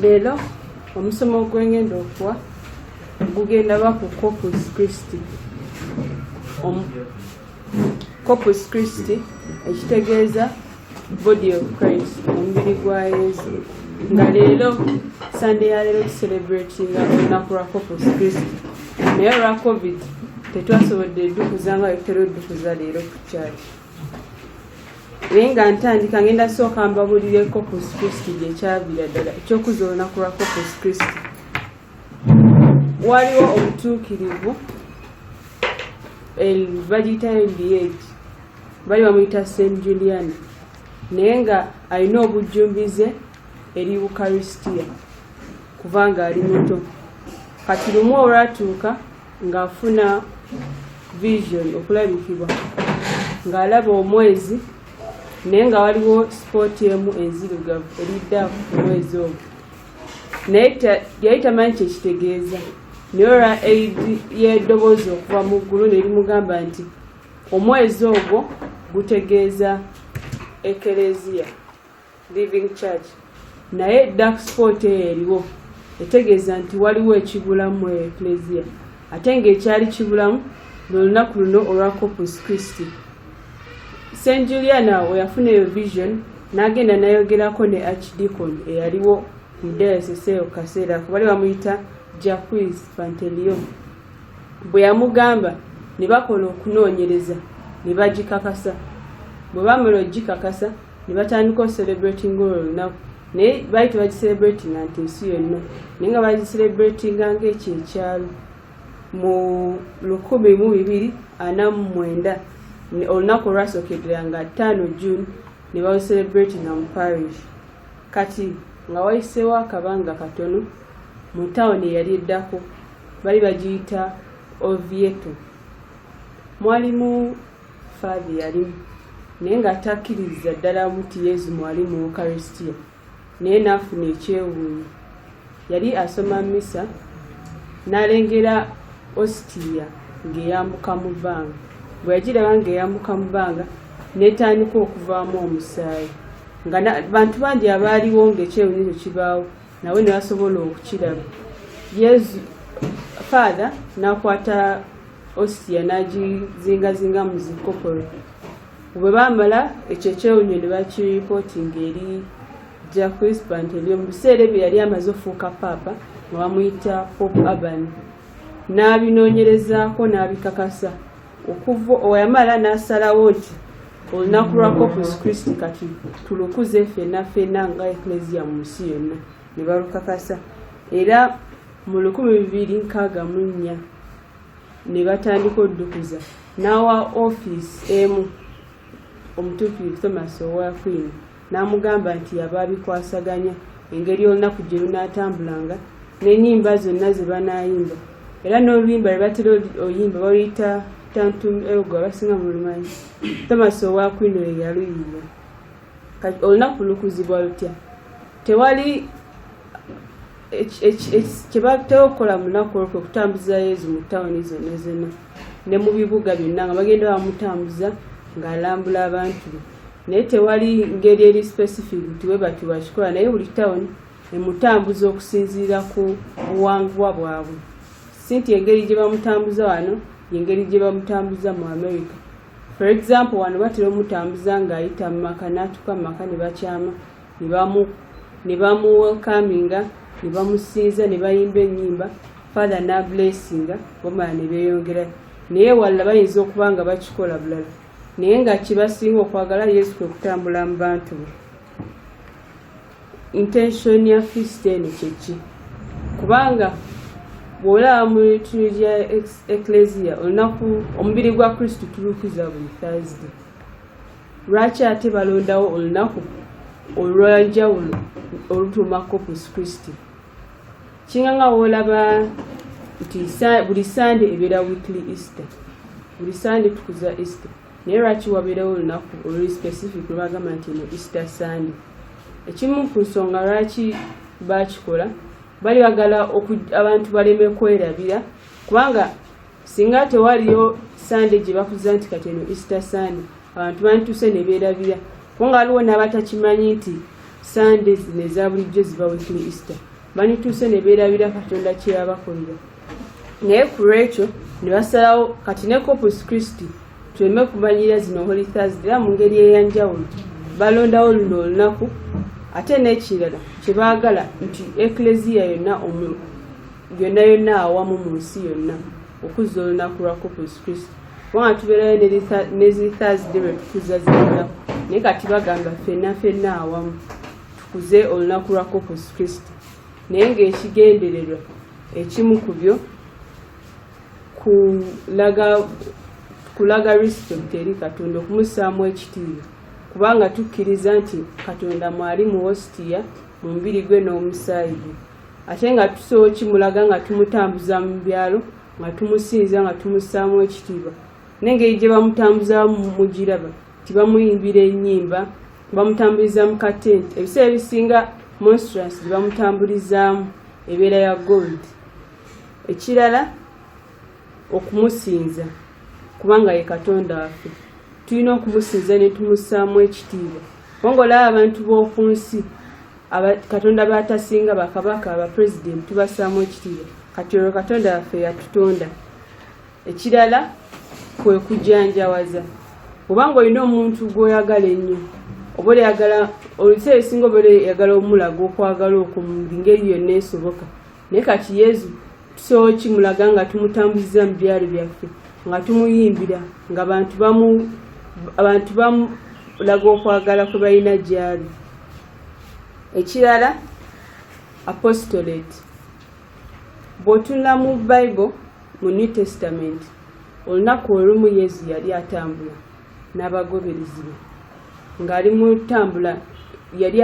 leero omusomo ogwengenda okuwa gugenda ba ku copus christi copus christi ekitegeeza body of christ omubiri gwa yesu nga leero sande ya leero tucelebratinga olunaku lwa kopus kristo naye olwa covid tetwasobodde edukuza nga wetera odukuza leero ku kyaki naye nga ntandika ngenda sooka mbabulire kopus kristo gyekyavira ddala ekyokuza olunaku lwa kopus kristo waliwo obutuukirivu bagiyitayo liage bali bamuyita saint julian naye nga alina obujjumbize eri ukaristia kuva nga ali muto kati lumu olwatuuka ng'afuna vision okulabikibwa ng'alaba omwezi naye nga waliwo sipooti emu enzirugavu eridda ku mwezi ogwo naye yali tamanyi kyekitegeeza naye olwa eid y'eddoboozi okuva mu ggulu nerimugamba nti Omwezi ogwo gutegeeza Ekereziya Living Church, naye dark spot eyo eriwo etegeeza nti waliwo ekibulamu eyo Ekereziya, ate ng'ekyali kibulamu lw'olunaku luno olwa Corpus Christi. St Juliana awo yafuna eyo vision n'agenda nayogerako ne Archdeacon eyaliwo mu diocese eyo kaseera ako bali bamuyita Jacques Panteleon. bwe yamugamba ne bakola okunoonyereza ne bagikakasa bwe bamala okugikakasa ne batandika ocelebretinga olwo olunaku naye baali tebagicelebretinga nti ensi yonna naye nga bagicelebretinga ngaekyo ekyalo mu lukumi mu bibiri ana mu mwenda olunaku olwasookedera nga ttaano june ne balucelebretinga mu parish kati nga wayiseewo akabanga katono mu tawuni eyali eddako bali bagiyita ovieto mwalimu faabi yalimu naye nga atakkiririza ddala muti yezu mwali mu ukaristia naye naafuna ekyewuunyo yali asoma misa n'alengera ositiya ng'eyambuka mu bbanga bwe yagiraba ng'eyambuka mu bbanga n'etandika okuvaamu omusaayi nga bantu bangi abaaliwo ng'ekyewuunyo kibaawo nawe nasobola okukiraba yesu father nakwata ostia nagizingazinga mu zikopolo bwe bamala ekyo ekyewunyo ne bakiripotinga eri ja crispant ebyo mu biseera ebyo yali amaze ofuuka paapa nga bamuyita pop urban n'abinoonyerezaako n'abikakasa okuva owayamala n'asalawo nti olunaku lwa corpus christi kati tulukuze fena fena nga eklesia mu nsi yonna ne balukakasa era mu lukumi bibiri nkaaga mu nnya ne batandika oddukuza n'awa ofiisi emu omutuukirivu thomas owa queen N'amugamba nti yaba abikwasaganya engeri olunaku gye lunaatambulanga n'ennyimba zonna ze banaayimba era n'oluyimba lwe batera oluyimba baluyita tantum elgo abasinga mu lumanyi tomasi owa kwino ye yaluyimba kati olunaku lukuzibwa lutya tewali kyebatewo okukola munaku olwo kwekutambuza yezu mu tawuni zonna zonna ne mu bibuga byonna nga bagenda bamutambuza ng'alambula abantu be naye tewali ngeri eri specific nti webati wakikola naye buli town emutambuza okusinziira ku buwangwa bwabwe si nti engeri gye bamutambuza wano yengeri gye bamutambuza mu america for example wano batera omutambuza ng'ayita mu maka n'atuuka mu maka ne bakyama ne bamuwelkaminga ne bamusinza ne bayimba ennyimba father n'ablessinga bamala ne beeyongerayo naye walala bayinza okuba nga bakikola bulala naye nga kibasinga okwagala yesu kwe kutambula mu bantu be intention ya fist eno kyeki kubanga bw'olaba mu tunu gya ekleziya olunaku omubiri gwa kristo tulukiza buli thursday lwaki ate balondawo olunaku olwanjawulo olutuuma corpus christi kinga nga wolaba nti buli sande ebeera weekly easter buli sande tukuza easter naye lwaki wabeerawo olunaku oluli specific lwebagamba nti eno easter sande ekimu ku nsonga lwaki bakikola bali bagala abantu baleme kwerabira kubanga singa tewaliyo sande gye bakuza nti kati eno easter sande abantu bantuse ne beerabira kuba nga waliwo n'abatakimanyi nti sande zino eza bulijjo ziba weekly easter bandituuse ne beerabira katonda kye yabakolera naye ku lwekyo ne basalawo kati ne corpus christi tuleme kumanyira zino holy thursday era mu ngeri eyanjawulo balondawo luno olunaku ate n'ekirala kye baagala nti ekleziya yonna yonna yonna awamu mu nsi yonna okuzza olunaku lwa corpus christi kubanga tubeerayo ne zi thursday lwe tukuza zinaku naye kati bagamba fenna fenna awamu tukuze olunaku lwa corpus christi naye ng'ekigendererwa ekimu ku byo kulaga kulaga respect eri katonda okumussaamu ekitiibwa kubanga tukkiriza nti katonda mwali mu wositiya mu mubiri gwe n'omusaayi gwe ate nga tusobola okimulaga nga tumutambuza mu byalo nga tumusinza nga tumussaamu ekitiibwa n'engeri gye bamutambuzamu mugiraba nti bamuyimbira ennyimba bamutambuliza mu katenti ebiseera ebisinga monstrance gye bamutambulizaamu ebeera ya gold ekirala okumusinza kubanga ye katonda waffe tulina okumusinza ne tumussaamu ekitiibwa kubanga olaba abantu b'oku nsi katonda batasinga bakabaka abapulezidenti tubassaamu ekitiibwa kati olwo katonda waffe yatutonda ekirala kwe kujanjawaza oba ng'olina omuntu gw'oyagala ennyo oba oyagala oluseera esinga oba oyagala omulaga okwagala okwo mu ngeri yonna esoboka naye kati yezu tusobola okimulaga nga tumutambuziza mu byalo byaffe nga tumuyimbira nga bantu bamu abantu bamulaga okwagala kwe balina gyali ekirala apostolate bw'otunula mu bible mu new testament olunaku olumu yesu yali atambula n'abagoberezi be ng'ali mu tambula yali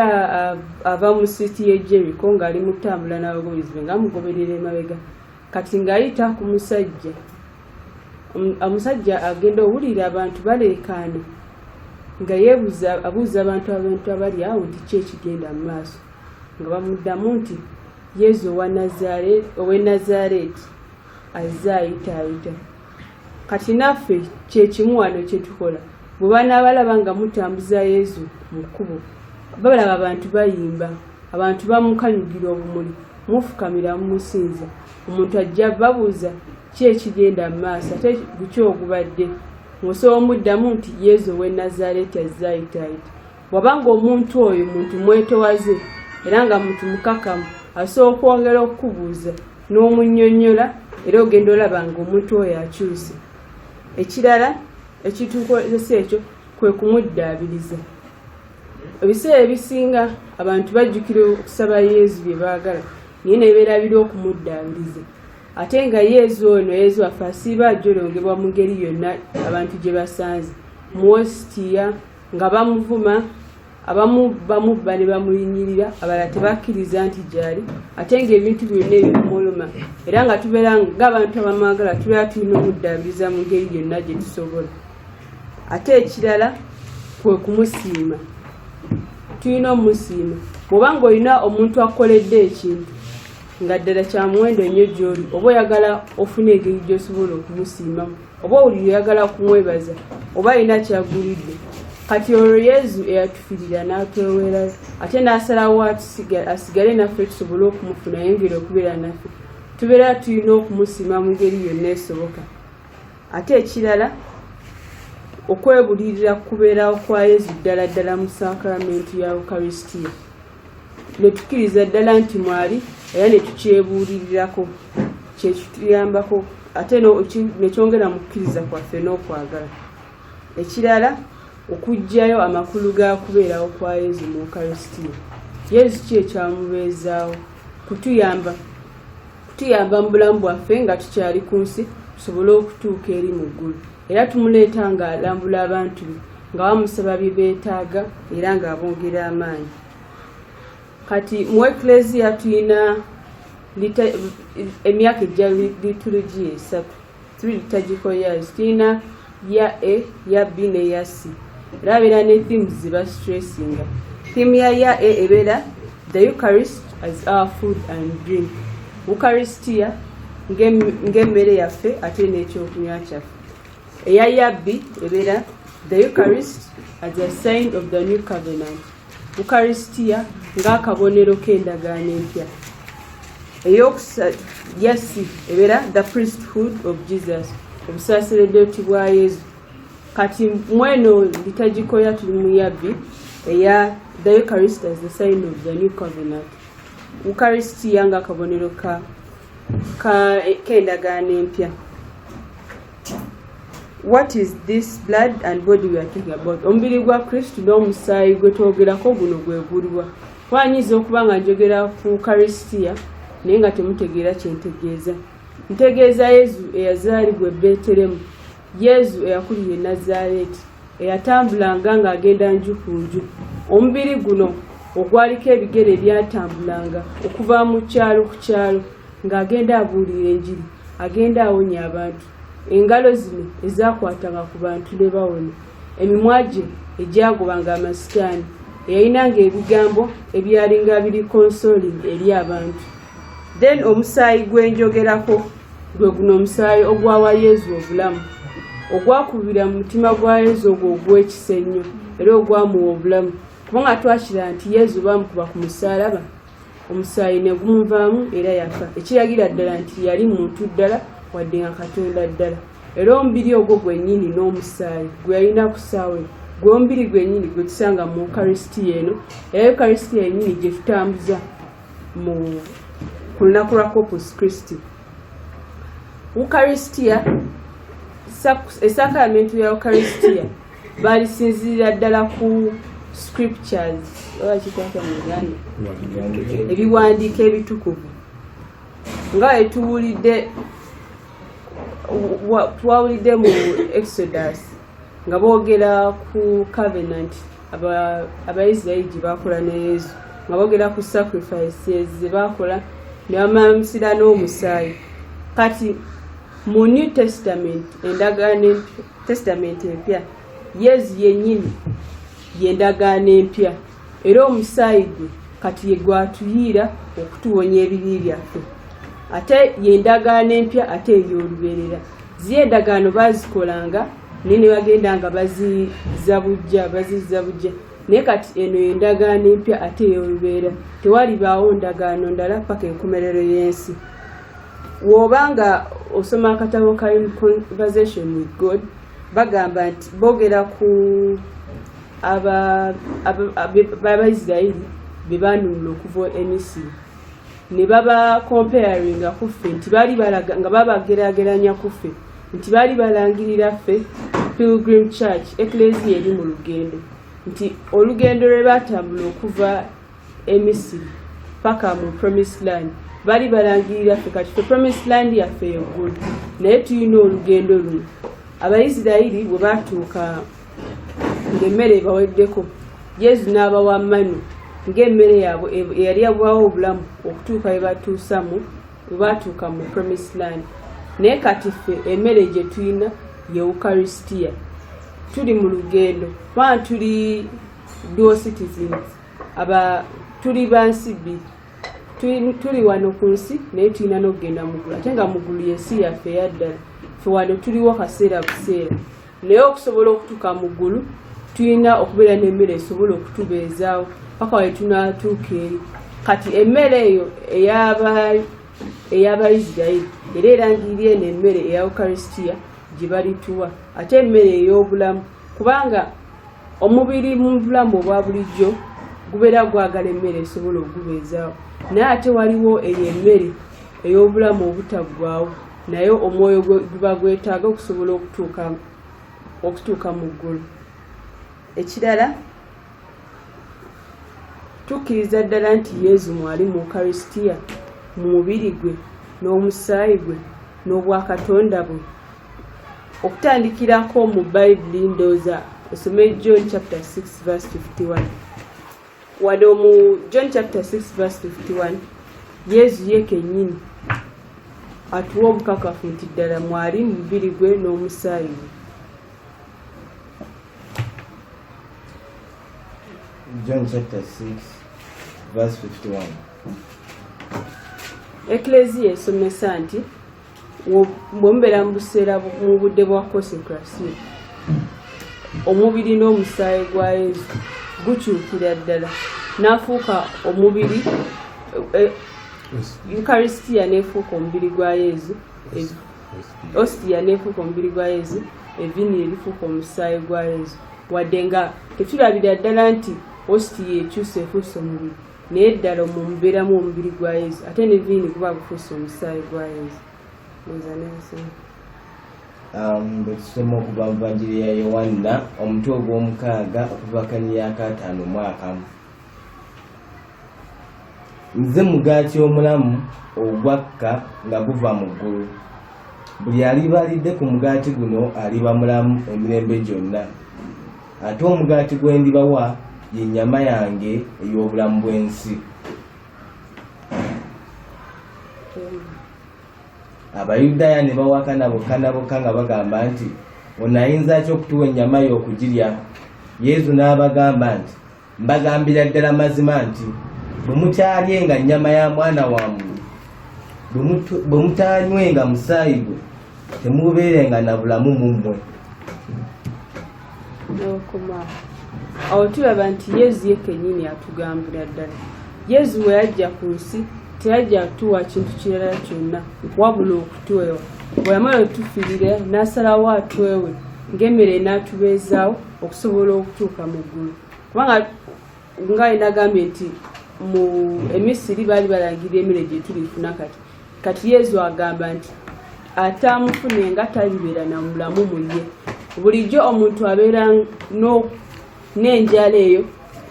ava mu siiti y'e jeriko ng'ali mu tambula n'abagoberezi be ng'amugoberera emabega kati ng'ayita ku musajja omusajja agenda owulira abantu baleekaana nga yeebuza abuuza abantu abantu abali awo nti ki ekigenda mu maaso nga bamuddamu nti yezu ow'e nazareeti azze ayitaayita kati naffe kyekimu wano kyetukola bwe banaabalaba nga mutambuza yezu mu kkubo babalaba abantu bayimba abantu bamukanyugira obumuli mufukamira mumusinza omuntu ajja babuuza ki ekigenda mu maaso ate guki ogubadde ng'osobola omuddamu nti yezu ow'e nazareeti azze ayitaayita wabanga omuntu oyo muntu mwetowaze era nga muntu mukakamu asobola okwongera okukubuuza n'omunyonyola era ogenda olaba nga omuntu oyo akyuse ekirala ekitukozesa ekyo kwe kumuddaabiriza ebiseera ebisinga abantu bajjukira okusaba yezu bye baagala naye nebeerabira okumuddaabiriza ate nga yezu ono yezu waffe asiiba ajolongebwa mu ngeri yonna abantu gye basanze muwositiya nga bamuvuma abamu bamubba ne bamuyinyirira abala tebakkiriza nti gyali ate ngaebintu byonna ebikumuluma era nga tubeera ngaabantu abamwagala tubeera tulina omuddaabiriza mu ngeri yonna gye tusobola ate ekirala kwe kumusiima tulina omusiima bwoba nga olina omuntu akukoledde ekintu nga ddala kyamuwendo nnyo gyoli oba oyagala ofuna engeri gyosobola okumusiimamu oba owulira oyagala kumwebaza oba alina kyagulidde kati olwo yezu eyatufirira n'atwewera ate n'asalawo asigale naffe tusobole okumufuna yengere okubeera naffe tubeera tulina okumusiima mu ngeri yonna esoboka ate ekirala okwebulirira kubeerawo kwa yezu ddala ddala mu sakramentu ya ukaristia ne tukkiriza ddala nti mwali era ne tukyebuulirirako kyekituyambako ate ne kyongera mu kukkiriza kwaffe n'okwagala ekirala okuggyayo amakulu ga kubeerawo kwa yezu mu ukarisitiya yezu ki ekyamubeezaawo kutuyamba kutuyamba mu bulamu bwaffe nga tukyali ku nsi tusobole okutuuka eri mu ggulu era tumuleeta ng'alambula abantu be nga bamusaba bye beetaaga era ng'abongera amaanyi kati mu ekleziya tulina emyaka ejja liturugiya esatu tuli litagiko yaz tulina ya a ya b ne ya c era abeera ne themes ziba stressinga theme ya ya a ebeera the eucharist as our food and drink ukaristia ng'emmere yaffe ate n'ekyokunywa kyaffe eya yabbi ebeera the eucharist as a sign of the new covenant ukaristia ng'akabonero k'endagaano empya eyokusatu yasi ebeera the priesthood of jesus obusaseredoti bwa yesu kati mweno litagikoya tuli mu yabbi eya the eucharist as the sign of the new covenant ukarisitiya nga akabonero ka kendagaano empya what is this blood and body we are talking about omubiri gwa kristu n'omusaayi gwe twogerako guno gwe guliwa wanyinza okuba nga njogera ku karisitiya naye nga temutegeera kyentegeeza ntegeeza yezu eyazaalibwa ebeeteremu yezu eyakulira e nazaaleeti eyatambulanga ng'agenda nju ku nju omubiri guno ogwaliko ebigere ebyatambulanga okuva mu kyalo ku kyalo ng'agenda abuulira enjiri agenda awonya abantu engalo zino ezakwatanga ku bantu ne bawona emimwa gye egyagobanga amasitaani eyalinanga ebigambo ebyalinga biri konsoli eri abantu then omusaayi gwenjogerako gwe guno omusaayi ogwawa yezu obulamu ogwakubira mu mutima gwa yezu ogwo ogwekisa ennyo era ogwamuwa obulamu kubanga twakira nti yezu bamukuba ku musaalaba omusaayi ne gumuvaamu era yafa ekiragira ddala nti yali muntu ddala wadde nga katonda ddala era omubiri ogwo gwennyini n'omusaayi gwe yalina ku saawe gwombiri gwennyini gwe tusanga mu ukarisitiya eno era ukarisitiya yennyini gye tutambuza mu ku lunaku lwa corpus christi ukaristia esakramentu ya ukaristia balisinzirira ddala ku scriptures oba kikwata mu uganda ebiwandiiko ebitukuvu nga etuwulidde twawulidde mu exodus nga boogera ku covenant abaisirairi gye baakola ne yesu nga boogera ku sacrifices ze baakola ne bamansira n'omusaayi kati mu new testament endagaano testament empya yesu yennyini yendagaano empya era omusaayi gwe kati ye gwatuyiira okutuwonya ebibi byaffe ate yendagaano empya ate ebyolubeerera ziyo endagaano bazikolanga naye ne bagenda nga baziza bujja baziza bujja naye kati eno yendagaano empya ate eyolubeera tewalibaawo ndagaano ndala paka enkomerero y'ensi woba nga osoma akatabo ka conversation with god bagamba nti boogera ku abaisirairi bebanunula okuva emisiri ne baba comparinga ku ffe nti baali balaga nga babagerageranya ku ffe nti baali balangirira ffe pilgrim church eklesia eri mu lugendo nti olugendo lwe batambula okuva emisiri paka mu promise land bali balangirira ffe kati fe promise land yaffe yeggulu naye tulina olugendo luno abaisirairi bwe batuuka ng'emmere ebaweddeko yezu n'abawa manu ng'emmere yaabwe eyali yabubawo obulamu okutuuka bwe batuusamu bwe baatuuka mu promise land naye kati ffe emmere gye tulina ye eukaristia tuli mu lugendo kubanga tuli dual citizens aba tuli bansi bbiri tuli wano ku nsi naye tulina n'okugenda mugulu ate nga mugulu yensi yaffe eyaddala fe wano tuliwo kaseera buseera naye okusobola okutuuka mu ggulu tulina okubeera n'emmere esobola okutubeezaawo paka waye tunaatuuka eri kati emmere eyo eyabaisirairi era erangirira eno emmere eya ukaristia gye balituwa ate emmere ey'obulamu kubanga omubiri mu bulamu obwa bulijjo gubeera gwagala emmere esobola okugubeezaawo naye ate waliwo eyo emmere ey'obulamu obutaggwawo naye omwoyo guba gwetaaga okusobola okutuuka okutuuka mu ggulu ekirala tukkiriza ddala nti yezu mwali mu ukarisitiya mu mubiri gwe n'omusaayi gwe n'obwakatonda bwe okutandikirako mu bayibuli ndooza osome john chapter 6 verse 51 wadde omu john chapter 6 verse 51 yesu ye kenyini atuwa obukakafu nti ddala mwali mu mubiri gwe n'omusaayi we john chapter 6 verse 51 ekleziya esomesa nti bwe mubeera mu buseera mu budde bwa kosekrasiyo omubiri n'omusaayi gwa yesu gukyukira ddala n'afuuka omubiri eh, eukaristia n'efuuka omubiri gwa yesu ostia n'efuuka omubiri gwa yesu evini erifuuka omusaayi gwa yesu wadde nga tetulabira ddala nti ostia ekyusa efuusa omubiri naye ddala omwo mubeeramu omubiri gwa yesu ate ne viini kuba gufuusa omusaayi gwa yesu nza nensimu um, bwetusoma okuva mu vanjiri ya yowanna omutwe ogw'omukaaga okuva kanyi yakataano omwakamu nze mugaati omulamu ogwakka nga guva mu ggulu buli aliba alidde ku mugaati guno aliba mulamu emirembe gyonna ate omugaati gwe ndibawa ye nnyama yange ey'obulamu bw'ensi abayudaaya ne bawakana bokka na bokka nga bagamba nti ono ayinza ki okutuwa ennyama ye okugirya yezu n'abagamba nti Mbagambira ddala mazima nti bwe mukyalyenga nnyama ya mwana wa muntu, bwe mutaanywenga musaayi gwe, temubeerenga na bulamu mu mmwe. Awo tulaba nti Yezu ye kennyini atugambira ddala. Yezu bwe yajja ku nsi teyajja kutuwa kintu kirala kyonna wabula okutwewa. Bwe yamala otufiirira n'asalawo atwewe ng'emmere n'atubeezaawo. okusobola okutuuka mu ggulu kubanga nga enagambye nti mu emisiri baali balangira emere gyetulifuna kati kati yezu agamba nti ate amufune nga talibeera na mulamu muye bulijjo omuntu abeera n'enjala eyo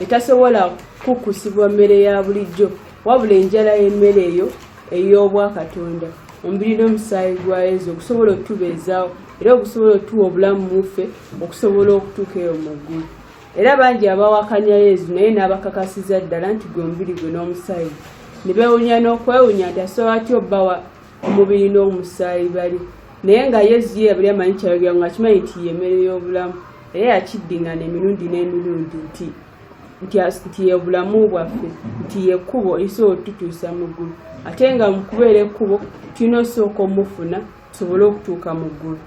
etasobola kukusibwa mmere ya bulijjo wabula enjala y'emmere eyo ey'obwakatonda omubiri n'omusaayi gwa yezu okusobola okutubeezaawo era ogusobola otuwa obulamu muffe okusobola okutuuka eyo mu ggulu era bangi abawakanya yezu naye n'abakakasiza ddala nti gwe mubiri gwe n'omusaayi ne bewunya n'okwewunya nti asobola atya obbawa omubiri n'omusaayi bali naye nga yezu ye yabali amanyi kyayogera nga akimanyi nti yemmere y'obulamu era yakiddingana emirundi n'emirundi nti nti yebulamu bwaffe nti yekkubo esobola otutuusa mu ggulu ate nga mu kubeera ekkubo tulina osooka omufuna tusobole okutuuka mu ggulu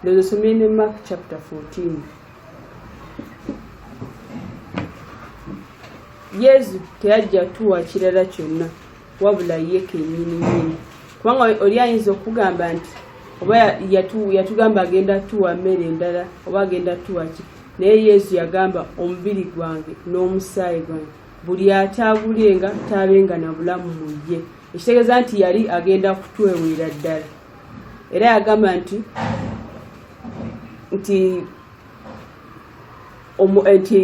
ndozo somye ne mark chapter 14 yesu teyajja tuwa kirala kyonna wabula ye kenyini nyini kubanga oli ayinza okugamba nti oba yatugamba agenda tuwa mmere endala oba agenda tuwa ki naye yesu yagamba omubiri gwange n'omusaayi gwange buli ataagulenga taabenga na bulamu mu ye ekitegeeza nti yali agenda kutweweera ddala era yagamba nti nti omu eh, nti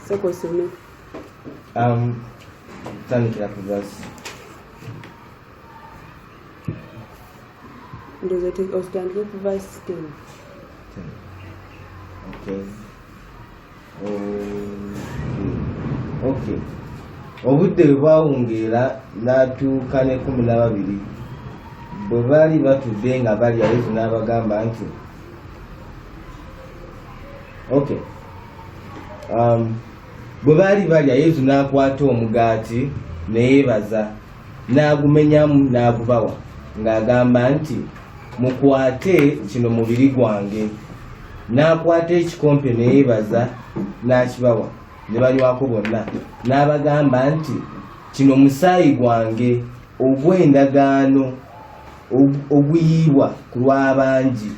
sekosome um, tandikira ku vasi ndozotandike ku vasi ten okay obudde bwe bwawungeera n'atuuka n'ekkumi n'ababiri bwe baali batudde nga balya yesu n'abagamba nti ok um, bwe baali balya yesu n'akwata omugaati ne yeebaza n'agumenyamu n'agubawa ng'agamba nti mukwate kino mubiri gwange n'akwata ekikompe neyebaza n'akibawa ne banywako bonna n'abagamba nti kino musaayi gwange ogw'endagaano oguyiibwa ku lw'abangi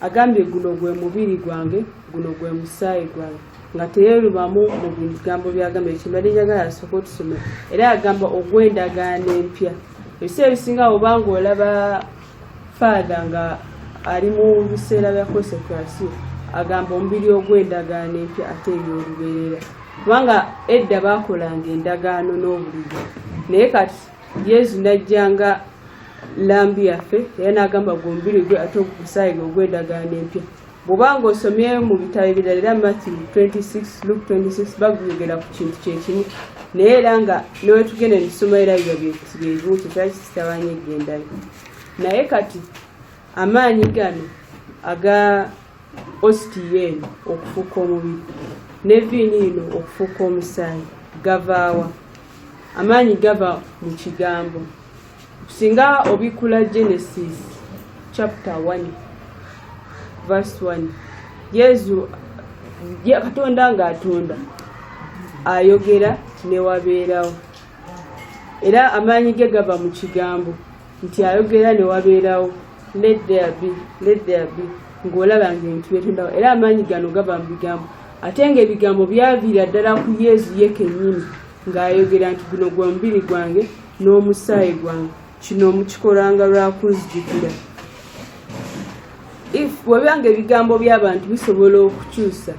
agambye guno gwe mubiri gwange guno gwe musaayi gwange nga teyerubamu mu bigambo byagamba ekimali njagala asooka otusoma era agamba ogw'endagaano empya ebiseera ebisinga oba nga olaba faatha nga ali mu biseera bya kosekrasi agamba omubiri ogw'endagaano empya ate ebyolubeerera kubanga edda baakolanga endagaano n'obulijo naye kati yezu n'ajja nga lambi yaffe era n'agamba gwombiri gwe ate ogusaayi gwe ogw'endagaano empya bw'oba ng'osomye mu bitabo ebirala era matthew 26 luke 26 baguyogera ku kintu kyekimu naye era nga newetugenda netusoma era biba byebimu kyekira kitabanya egendala naye kati amaanyi gano aga ostn okufuuka omubiri ne viini ino okufuuka omusaayi gavaawa amaanyi gava mu kigambo singa obikkula genesis chapter 1 verse 1 yesu katonda ng'atonda ayogera newabeerawo era amaanyi ge gava mu kigambo nti ayogera ne wabeerawo let there be let there be ng'olaba ng'ebintu byetondawo era amaanyi gano gava mu bigambo ate ng'ebigambo byaviira ddala ku yezu ye kennyini ng'ayogera nti guno gwa mubiri gwange n'omusaayi gwange kino mukikolanga lwa kunzijukira if webiba nga ebigambo by'abantu bisobola okukyusa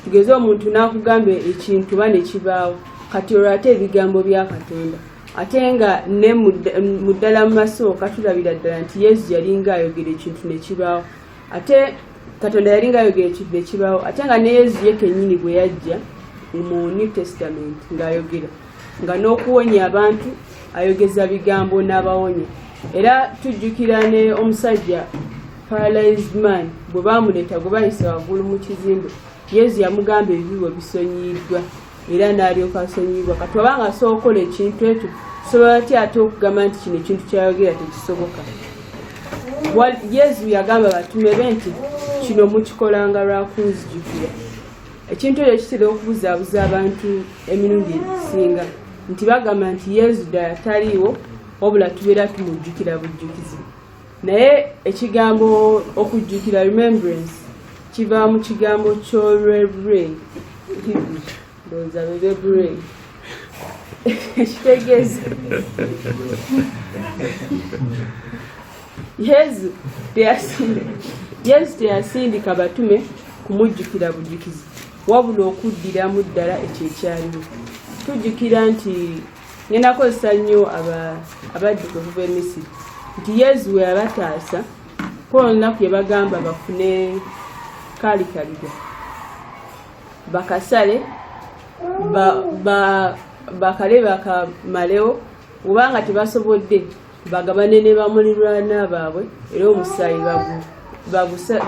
tugeze omuntu n'akugamba ekintu ba ne kibaawo kati olwo ate ebigambo bya katonda ate nga ne mu ddala mu maso katulabira ddala nti yesu yalinga ayogera ekintu ne kibaawo ate katonda yalinga ayogera ekintu ne kibaawo ate nga ne yesu ye kennyini bwe yajja mu new testament ng'ayogera nga n'okuwonya abantu ayogeza bigambo n'abawonya era tujjukira ne omusajja paralyzed man bwe baamuleeta gwe bayise waggulu mu kizimbe yesu yamugamba ebibi bwe bisonyiyiddwa era n'alyoka asonyiyiddwa kati oba nga asobola okukola ekintu ekyo sobola ti ate okugamba nti kino ekintu kyayogera tekisoboka yesu yagamba batume be nti kino mukikolanga lwakunzijukira ekintu ekyo kitera okubuzaabuza abantu emirundi egisinga nti bagamba nti yesu ddala taliiwo wabula tubeera tumujjukira bujjukizi naye ekigambo okujjukira remembrance kiva mu kigambo kyolwebre ndowooza bebebre ekitegeeza yesu teyasindika batume kumujjukira bujjukizi wabula okuddiramu ddala ekyo ekyaliwo tujjukira nti ngenda kozesa nnyo abadduka okuva emisiri nti yesu we yabataasa kuba olunaku yebagamba bafune kalikaliga bakasale bakale bakamalewo obanga tebasobodde bagabane ne bamulirwana baabwe era omusaayi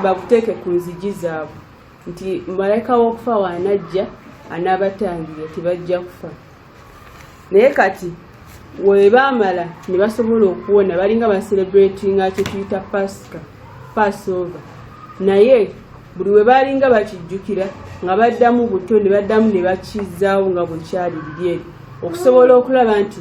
baguteeke ku nzigi zaabwe nti malayika w'okufa waanajja anaabatangira tibajja kufa naye kati webaamala ne basobola okuwona balinga bacelebratinga kyetuyita pasika passover naye buli we baalinga bakijjukira nga baddamu buto ne baddamu ne bakizaawo nga bwekyali biri eri okusobola okulaba nti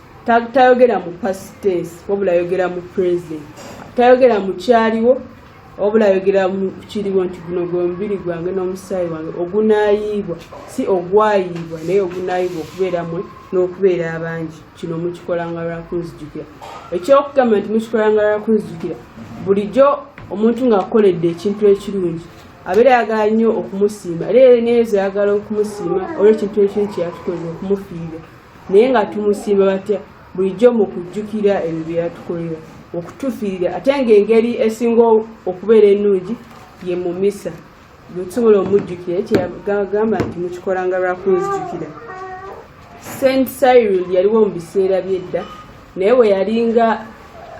tayogera mu past tense wabula ayogera mu present tayogera mu kyaliwo wabula ayogera mu kiriwo nti guno gwe mubiri gwange n'omusaayi wange ogunaayiibwa si ogwayiibwa naye ogunaayiibwa okubeera mwe n'okubeera abangi kino mukikolanga lwakunzijukira ekyokugamba nti mukikolanga lwakunzijukira bulijjo omuntu ng'akoledde ekintu ekirungi abeera ayagala nnyo okumusiima era eneezo ayagala okumusiima olw'ekintu ekintu kyeyatukolera okumufiirira naye nga tumusiima batya bulijjo mu kujjukira ebyo bye yatukolera okutufiirira ate ng'engeri esinga okubeera ennungi ye mu misa bwetusobola omujjukira kyeyagamba nti mukikolanga lwakunzijukira saint cyril yaliwo mu biseera byedda naye we yalinga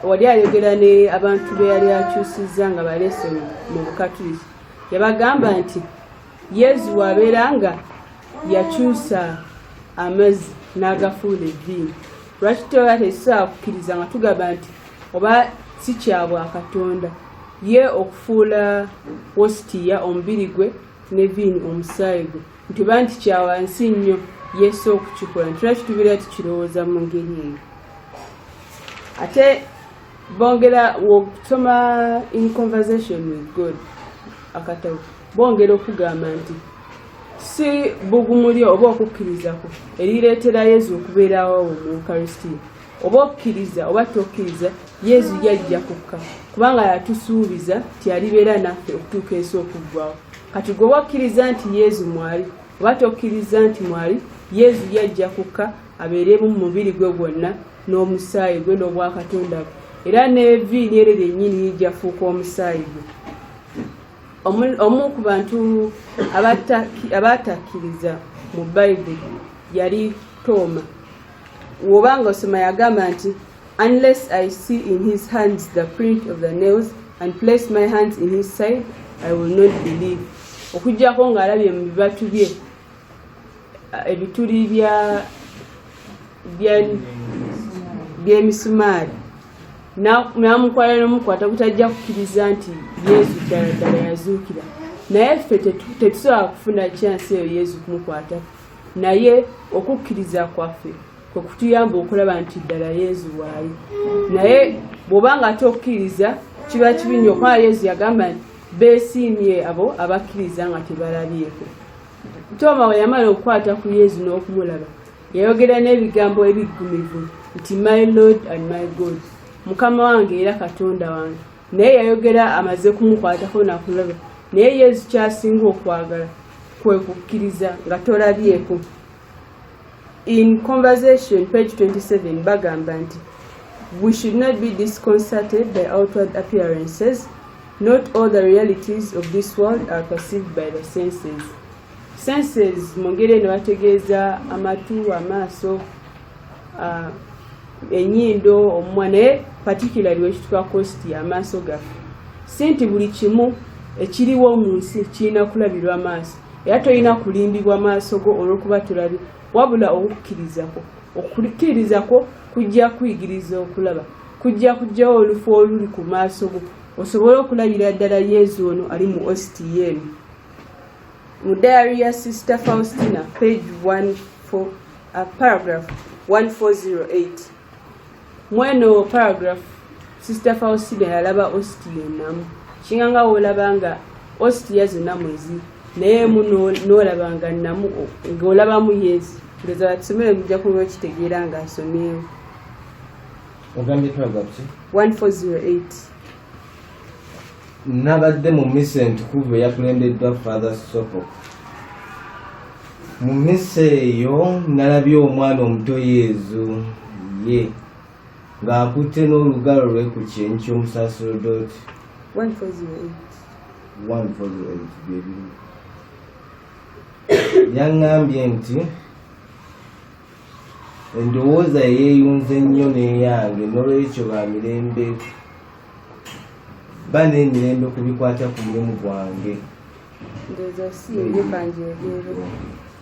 wali ayogera ne abantu be yali akyusizza nga balesoni mu bukatuliki yabagamba nti yezu wabeera nga yakyusa amazzi n'agafuula evviini lwaki toba tekisobola kukkiriza nga tugamba nti oba si kyabwa katonda ye okufuula wositiya omubiri gwe ne viini omusaayi gwe nti oba nti kyawansi nnyo yesu okukikola nti lwaki tubeera tukirowooza mu ngeri eyo ate bongera wokusoma in conversation with god akatabo bongera okugamba nti si bugumu lyo oba okukkirizako erireetera yezu okubeerawo mu ukaristia oba okkiriza oba tokkiriza yezu yajja kukka kubanga yatusuubiza nti alibeera naffe okutuuka ensi okuggwawo kati gwe oba okkiriza nti yezu mwali oba tokkiriza nti mwali yezu yajja kukka abeeremu mu mubiri gwe gwonna n'omusaayi gwe n'obwakatonda bwe era n'eviini eryo lyennyini yijja fuuka omusaayi gwe omu ku bantu abaatakkiriza mu bayibuli yali tooma woba nga osoma yagamba nti unless i see in his hands the print of the nails and place my hands in his side i will not believe okugyako ng'alabye mu bibatu bye ebituli byemisumaali namukwala nomukwata butajja kukiriza nti yesu ddala ddala yazuukira naye ffe tetusobola kufuna kyansi eyo yesu kumukwata naye okukkiriza kwaffe kwekutuyamba okulaba nti ddala yesu waali naye bwobanga ate okukkiriza kiba kibi nyo kubanga yesu yagamba nti Beesiimye abo abakkiriza nga tebalabyeko. Tooma bwe yamala okukwata ku Yezu n'okumulaba, yayogera n'ebigambo ebiggumivu nti my Lord and my God, Mukama wange era Katonda wange. Naye yayogera amaze kumukwatako nakulaba. Naye Yezu ky'asinga okwagala kwe kukkiriza nga tolabyeko. in conversation page 27 bagamba nti we should not be disconcerted by outward appearances not all the realities of this world are perceived by the senses senses mu ngeri eno bategeeza amatu amaaso uh, enyindo omumwa naye particularly wekituka kosti amaaso gaffe si nti buli kimu ekiriwo mu nsi kirina kulabirwa maaso era tolina kulimbibwa maaso go olwokuba tulabi wabula okukkirizako okukkirizako kujja kuyigiriza okulaba kujja kujjawo olufu oluli ku maaso go osobole okulabira ddala yezu ono ali mu ostiyen mu diary ya sister faustina page 14 uh, paragraph 1408 mweno paragraph sister faustina yalaba osti yenamu kinga nga wolaba nga osti yazo namwezi naye mu nolaba nga namu ngaolaba mu yezi ndoza batusomere mujja kuba okitegeera nga asomyewo ogambye paragraph 148 nabadde mu mmisa entukuvu eyakulembeddwa father sopo mu mmisa eyo nalabye omwana omuto yezu ye ng'akutte n'olugalo lwe ku kyenyi ky'omusaserodooti yaŋŋambye nti endowooza yeeyunze nnyo n'eyange n'olwekyo ba mirembe ba n'emirembe ku bikwata ku mulimu gwange ndoza si ebyo kanjogere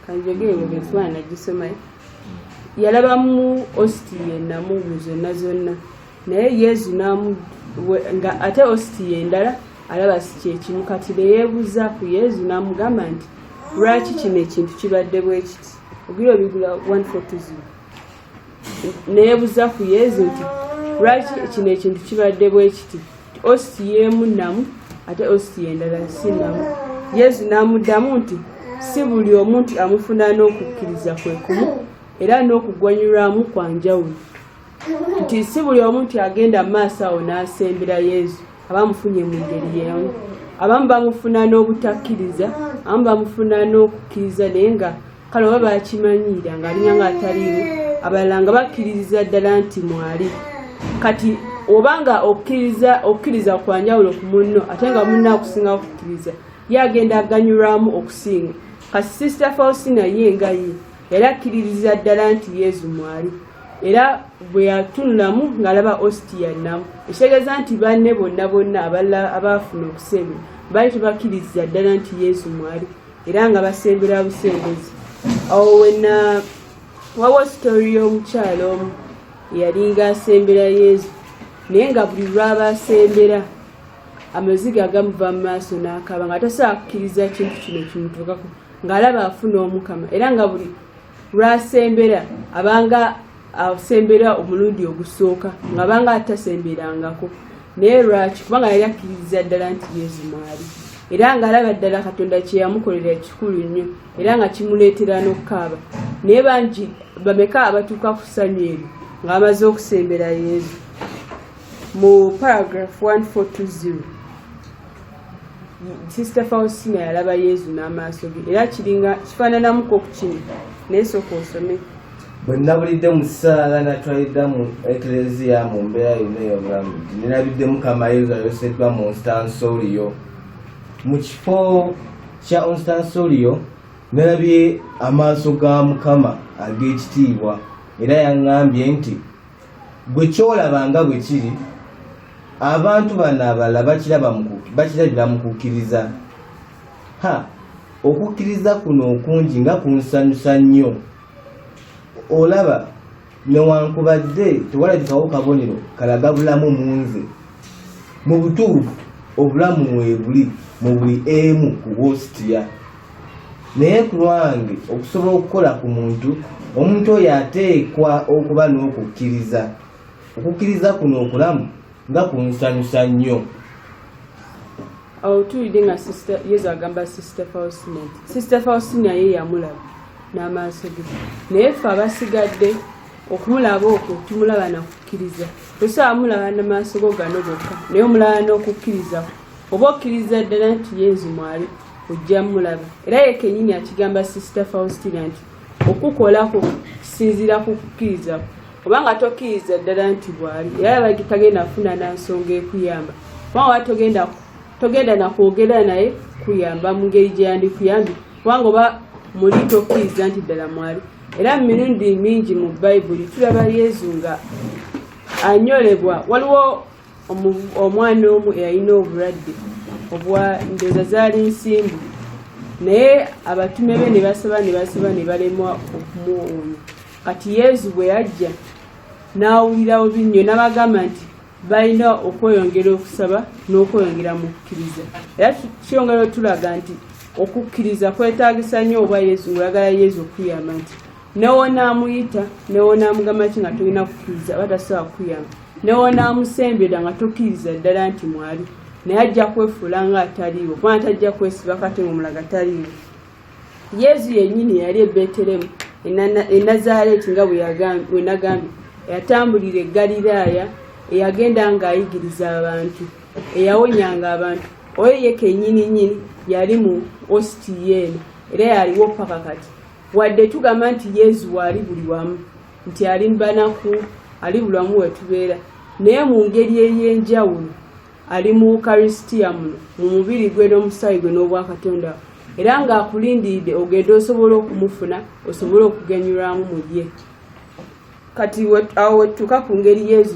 kanjogere ebyo benswana nagisomayo yalabamu ositi yenamu mu zonna zonna naye yezu namu nga ate ositi yendala alaba si kyekimu kati neyebuuza ku yezu namugamba nti lwaki kino ekintu kibadde bwekiti ogira obigula 140 neebuza ku yezu nti lwaki kino ekintu kibadde bwe kiti ositi yeemu namu ate ositi yendala si namu yezu n'amuddamu nti si buli omu nti amufuna n'okukkiriza kwe kumu era n'okugwanyulwamu kwa njawulo nti si buli omu nti agenda mu maaso awo n'asembera yezu aba amufunye mu ngeri yeemu abamu bamufuna n'obutakkiriza abamu bamufuna n'okukkiriza naye nga kale oba bakimanyiira nga alinya nga ataliiwo abalala nga bakkiririza ddala nti mwali kati oba nga okkiriza okukkiriza kwa njawulo ku munno ate nga munno akusinga okukkiriza ye agenda aganyulwamu okusinga kati sisita faustina ye nga ye era akkiririza ddala nti yezu mwali era bwe yatunulamu ng'alaba ositiya nnamu ekitegeeza nti banne bonna bonna abalala abaafuna okusembera baali tebakkiririza ddala nti yezu mwali era nga basembera busembezi awo wena wawo sitori y'omukyalo omu eyalinga asembera yezu naye nga buli lwaba asembera amaziga agamuva mu maaso n'akaba nga tasobola kukkiriza kintu kino kimutuukako ng'alaba afuna omukama era nga buli lwasembera abanga asembera omulundi ogusooka nga banga atasemberangako naye lwaki kubanga yali akkiririza ddala nti yesu mwali era nga alaba ddala katonda kyeyamukolera kikulu nnyo era nga kimuleetera n'okukaaba naye bangi bameka abatuuka ku ssanyu ebyo nga bamaze okusembera yesu mu paragraph 1420 sisita faustina yalaba yezu n'amaaso ge era kiringa kifaananamuko ku kino naye sooka osome bwe nabulidde mu ssaala natwalidda mu ekleziya mu mbeera yonna ey'obulamu nti nirabidde mukama yezu ayoseddwa mu nstansolio mu kifo kya onstansolio nalabye amaaso ga mukama ag'ekitiibwa era yaŋŋambye nti gwe kyolaba nga bwe kiri abantu bano abalala bakirabira mu kukkiriza ha okukkiriza kuno okungi nga kunsanyusa nnyo olaba newankubadde tewalabikawo kabonero kalaga bulamu mu nze mu butuufu obulamu mwebuli mu buli emu ku wositiya naye ku lwange okusobola okukola ku muntu omuntu oyo ateekwa okuba n'okukkiriza okukkiriza kuno okulamu nga kunsanyusa nnyo awo tuwulidde nga yesu agamba sister faustina nti sister faustina ye yamulaba n'amaaso ge naye ffe abasigadde okumulaba okwo tumulaba nakukkiriza tosobola mulaba namaaso go gano gokka naye omulaba n'okukkiriza oba okkiriza ddala nti yenzi mwaliko ojja mulaba era yekenyini akigamba sister faustina nti okukolako kisinziira ku kukkiriza obanga tokkiriza ddala nti bwali era abagi tagenda kufuna nansonga ekuyamba kubanga oba togenda togenda nakwogera naye kuyamba mu ngeri gye yandikuyambi kubanga oba muli tokkiriza nti ddala mwali era mu mirundi mingi mu bayibuli tulaba yezu nga anyolebwa waliwo omwana omu eyalina obulwadde obwa ndoza zaali nsimbu naye abatume be ne basaba ne basaba ne balemwa okumuwonya kati yezu bwe yajja n'awulirawo binnyo n'abagamba nti balina okweyongera okusaba n'okweyongera mu kukkiriza era kiyongera otulaga nti okukkiriza kwetagisa nnyo oba yezu ngaagala yezu okuyamba nti newonaamuyita newonaamugamba ki nga tolina kukkiriza aba tasobola kukuyamba newonamusembera nga tokkiriza ddala nti mwali naye ajja kwefuula nga ataliiwo kubanga tajja kwesiba kati ngaomulaga taliiwo yezu yennyini yali ebeteremu enazaaleeti nga bwenagambye eyatambulira egaliraaya eyagenda ng'ayigiriza abantu eyawonyanga abantu oyo ye kennyini nyini yali mu ositiyeeno era yaliwo paka kati wadde tugamba nti yezu waali buli wamu nti ali mubanaku ali bulamu wetubeera naye mu ngeri ey'enjawulo ali mu ukarisitiya muno mu mubiri gwe n'omusaayi gwe n'obwakatonda era ng'akulindiridde ogenda osobola okumufuna osobole okugenyulwamu mu ye kati awo wetutuuka ku ngeri yezu